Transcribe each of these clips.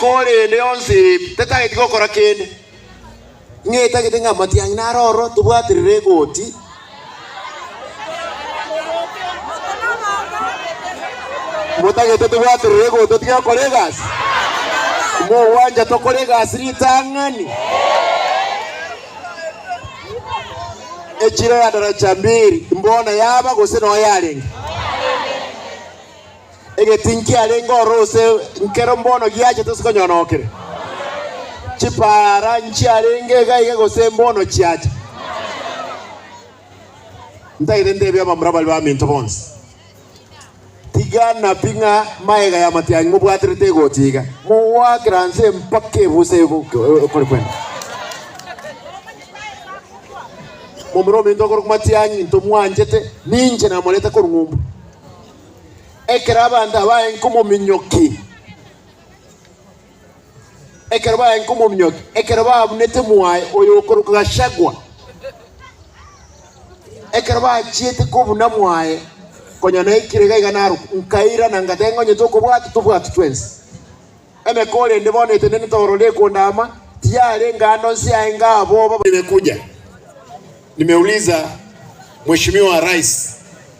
Korende yonsi eye ebi tetageti gokora kende, ng'a etagete ng'a amatiang'ina are ororo tobwaterere egoti. Motagete tobwaterere egoti totige gokora egasi? Mogwancha tokore egasi ritang'ani? Echiro ya daracha mbiri, mbona yaba gose noyo yarenge? Egetii nkiarenge ororo ase nkero mbono giachete ase konyona okire. Chipaara nchiarenge iga iga gose mbono chiacha. Ntagete ntebie abamura baria baminto bonsi, Tiga nabi ng'a magega y'amatiang'i mobwaterete egocha iga, mogoakera inse mpaka ebusa ekore kwenda. Momura ominto okorokwa matiang'i ntomwanchete, ninche namorete korwa ng'umbu. Ekero abanto abaye nkomominyoki, ekero baye nkomominyoki, ekero babunete mwaye oyo okorokwa Gachagua, ekero bachiete kobuna mwaye, konya naikire iga iga narokwa, nkairana ngateba ng'a onye tokobwata tobwati twensi. Emeke orende bono etenenete ororo ekondama, tiyarenge ande onsi yaye ngaboba. Nimekuja nimeuliza mheshimiwa rais.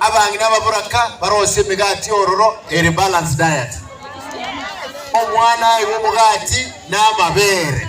Abang'ina ababoraka barosie emegati ororo ere balance diet. Omwana aigwe omogati na amabere.